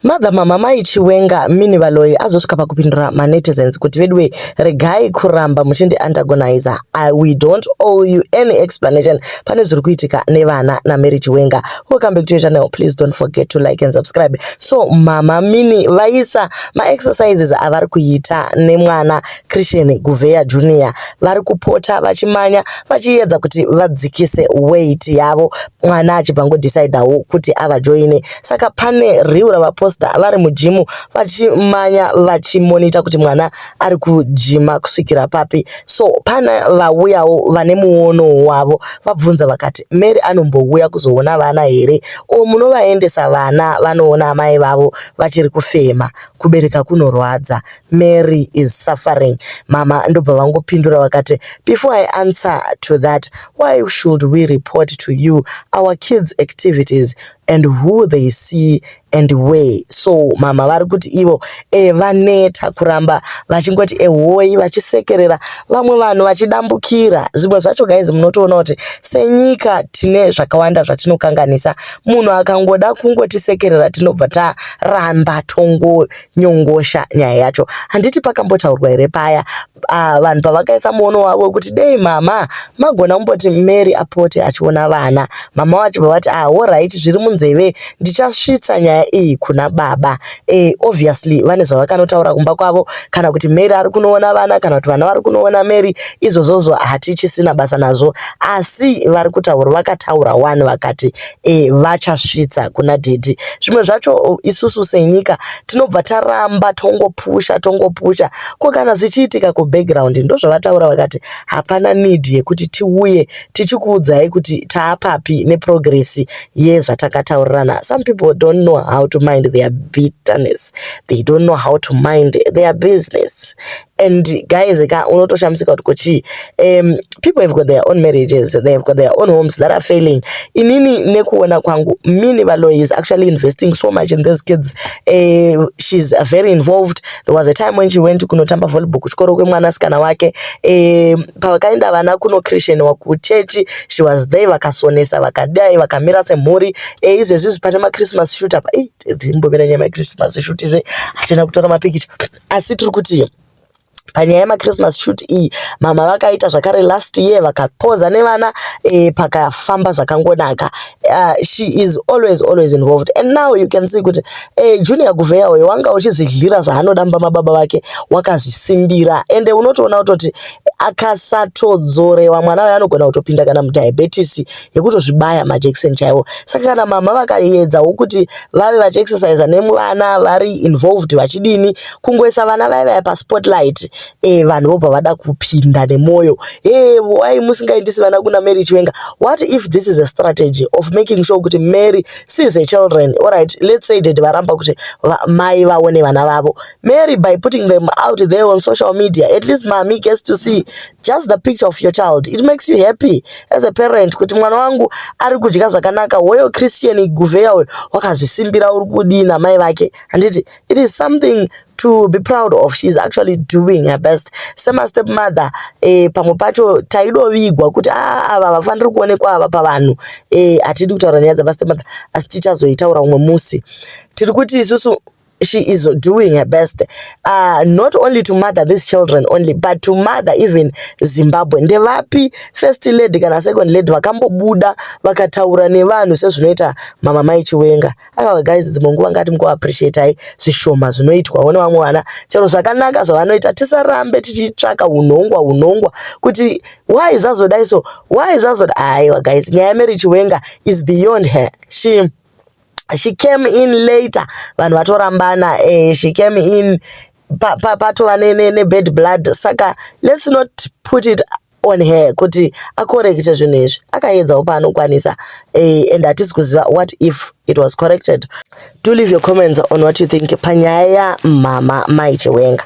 Mother mama mai Chiwenga mini Valoyi azosvika pakupindura manetizens kuti veduwe regai kuramba muchindi antagonizer I, we don't owe you any explanation pane zviri kuitika nevana naMary Chiwenga welcome back to your channel please don't forget to like and subscribe so mama mini vaisa maexercises avari kuita nemwana Christian Guveya Junior vari kupota vachimanya vachiyedza kuti vadzikise weight yavo mwana achibva ngodecidawo kuti avajoine saka pane riu ravaposta vari mujimu vachimanya vachimonita kuti mwana ari kujima kusvikira papi so pana vauyawo vane muono wavo vabvunza vakati mary anombouya kuzoona vana here o munovaendesa vana vanoona amai vavo vachiri kufema kubereka kunorwadza Mary is suffering. Mama ndobva vangopindura vakati, before I answer to that, why should we report to you our kids activities and who they see and where? So mama vari kuti ivo e, vaneta kuramba vachingoti ehoi vachisekerera vamwe vanhu vachidambukira. Zvimwe zvacho guys munotoona kuti senyika tine zvakawanda zvatinokanganisa. Munhu akangoda kungotisekerera tinobva taramba tongo nyongosha nyaya yacho handiti pakambotaurwa here paya uh, vanhu pavakaisa muono wavo wekuti dei mama magona kumboti mary apote achiona vana mama wacho vavati ah horaiti zviri munzeve ndichasvitsa nyaya iyi kuna baba e, obviously vane zvavakanotaura kumba kwavo kana kuti mary ari kunoona vana kana kuti vana vari kunoona mary izvozvozvo hatichisina basa nazvo asi vari kutaura vakataura wani vakati e, vachasvitsa kuna dhedhi zvimwe zvacho isusu senyika tinobva taramba tongopusha tongopusha ko kana zvichiitika kubackground ndozvavataura vakati hapana need yekuti tiuye tichikuudzai kuti taapapi neprogress yezvatakataurirana some people don't know how to mind their bitterness they don't know how to mind their business and guys ka unotoshamisika kuti kochii um people have got their own marriages they have got their own homes that are failing inini nekuona kwangu mini valoy is actually investing so much in these kids uh, she's very involved there was a time when she went kunotamba volleyball kuchikoro kwemwanasikana wake um pavakaenda vana kunochrisheniwa kuchechi she was there vakasonesa vakadai vakamira semhuri e, izvezvi zvipane machristmas shoot apa imbomira nyaya machristmas shoot izve hatina kutora mapikicha asi tiri kuti panyaya yemachristmas shoot iyi mama vakaita zvakare last year vakapoza nevana e, pakafamba zvakangonaka uh, she is always always involved and now you can see kuti e, junior guveya uyo wanga uchizvidlira zvaanoda mumba mababa vake wakazvisimbira ende unotoona kutoti akasatodzorewa mwana uyo anogona kutopinda kana mudiabetes yekutozvibaya majekiseni chaiwo saka kana mama vakaedzawo kuti vave vachiexercisa nemuvana vari involved vachidini kungoisa vana vaya vaya paspotlight e, vanhu vobva vada kupinda nemwoyo e, why musingaendisi vana kuna mary chiwenga what if this is a strategy of making sure kuti mary sees a children alright let's say dad varamba kuti va, mai vaone vana vavo mary by putting them out there on social media at least mami gets to see just the picture of your child it makes you happy as a parent kuti mwana wangu ari kudya zvakanaka hoyo christian guveya uyo wakazvisimbira uri kudii namai vake handiti it is something to be proud of she is actually doing her best semastep mother eh, pamwe pacho taidovigwa kuti ah, ava havafaniri kuonekwa ava pavanhu eh, hatidi kutaura nyaya dzemastep mother asi tichazoitaura umwe musi tiri kuti isusu she is doing her best uh, not only to mother these children only but to mother even zimbabwe ndevapi first lady kana second lady vakambobuda vakataura nevanhu sezvinoita mama mai chiwenga aka guys dzimwe nguva ngati mukuappreciatai zvishoma zvinoitwawo nevamwe vana chero zvakanaka zvavanoita tisarambe tichitsvaka unhongwa unhongwa kuti why zvazodai so why zvazoda aiwa guys nyaya yamary chiwenga is beyond her shame she came in later vanhu vatorambana eh, she came in patova pa, pa nebad blood saka let's not put it on her kuti akorekite zvinhu izvi akaedzawo paanokwanisa eh, and hatisi kuziva what if it was corrected do leave your comments on what you think panyaya yamhama maichiwenga